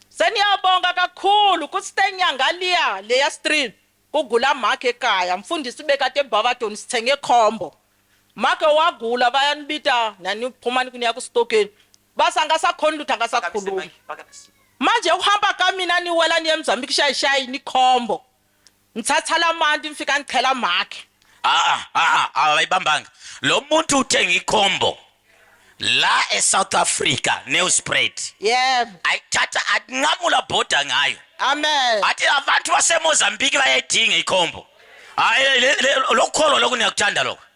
Seniyabonga kakhulu ku Ste Nyangaliya leya stream ku gula make ekaya mfundisi bekade Barberton sithenge combo make wagula bayanibita nani phuma niya ku stokeni basi angasakhoni lutho angasakhulumi manje ukuhamba kamina niwela niye Mzambique shayishayi ni combo Ngithatha lamanti ngifika ngichela makhe. Aa aa abayibambanga. Lo muntu uthenga ikhombo la eSouth Africa neuspread. Yebo. Ayithatha atinqamula bhoda ngayo. Amen. Athi abantu baseMozambique bayayidinga ikhombo. Hayi lokukholwa lokho niyakuthanda lokho.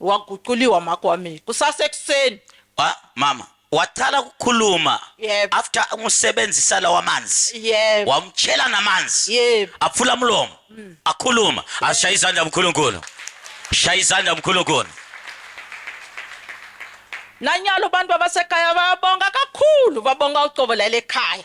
Waguquliwa makwami kusasekuseni. Wa mama wacala kukhuluma Yebo. after umusebenzisa lawa manzi. Yebo. Wamtshela namanzi. Yebo. Aphula umlomo. Akhuluma. Ashaya izandla uNkulunkulu. Shaya izandla uNkulunkulu. Nanyalo abantu babasekhaya bayabonga kakhulu, babonga ucobo lale khaya.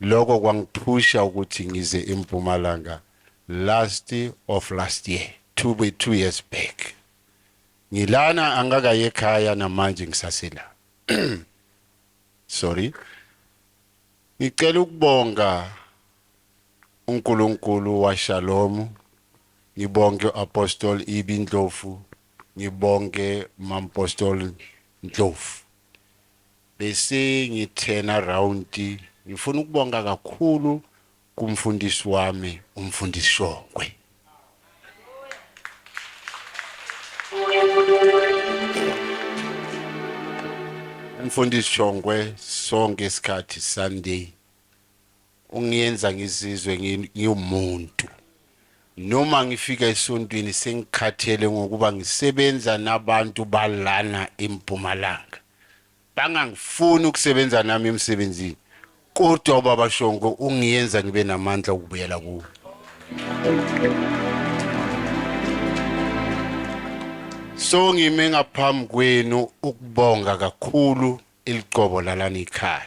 Loko kwangithusha ukuthi ngize eMpumalanga last of last year to be two years back. Ngilana angakayi ekhaya namanje ngisasela. Sorry. Ngicela ukubonga uNkulunkulu waShalom, ngibonge uApostle Ibi Ndlovu, ngibonge uMampostoli Ndlovu. Besengithena round ngifuna ukubonga kakhulu kumfundisi wami umfundisi Shongwe. Umfundisi Shongwe sonke isikhathi Sunday Ungiyenza ngizizwe ngiwumuntu. Noma ngifika esontweni sengikhathele ngokuba ngisebenza nabantu balana eMpumalanga. Bangangifuni ukusebenza nami emsebenzini. Kodwa uBaba Shongo ungiyenza ngibe namandla okubuyela kuwe. So ngime ngaphambi kwenu ukubonga kakhulu iliqobo lalana ikhaya.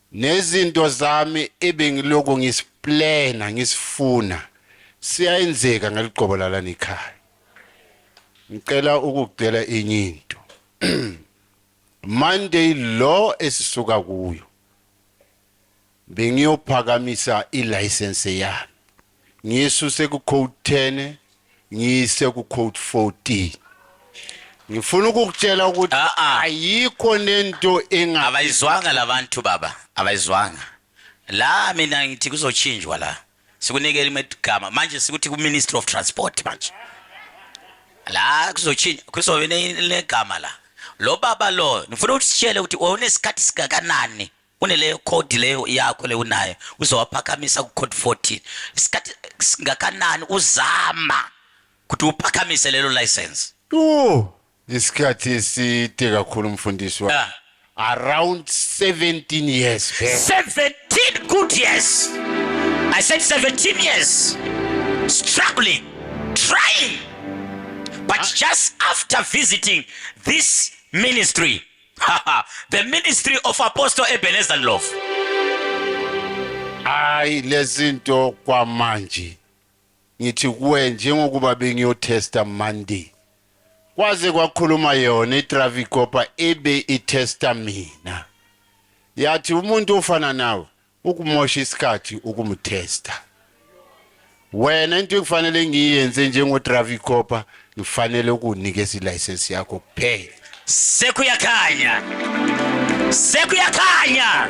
Nezinto zami ebengilokhu ngisiplena ngisifuna siyayenzeka ngaliqobo lalana ekhaya. Ngicela ukukucela enye into. Monday lo esisuka kuyo bengiyophakamisa i-license yami. ngiyisuse ku-code 10 ngiyise ku-code 14 ngifuna ukukutshela ukuthi Ah, ah. ayikho nento enga abayizwanga labantu baba abayizwanga la mina ngithi kuzochinjwa la sikunikele imegama manje sikuthi ku-ministry of transport manje la kuzochinjwa kuzobe ne- negama la lo baba lo ngifuna usitshele ukuthi unesikhathi singakanani uneleyo code leyo yakho le unayo uzowaphakamisa ku code 14 isikhathi singakanani uzama ukuthi uphakamise lelo license Ooh, isikhathi eside kakhulu mfundisi wa. Ah. Around 17 years back. 17 good years i said 17 years struggling trying but just after visiting this ministry the ministry of apostle ebenezer love hayi lezinto kwamanje ngithi kuwe njengokuba bengiyotesta monday kwaze kwakhuluma yona itraffic copa ebe itesta mina yathi umuntu ofana nawe ukumosha isikhathi ukumtesta wena into ekufanele ngiyenze njengo Dravi Copa ngifanele ukunikeza ilicense yakho kuphela sekuyakhanya sekuyakhanya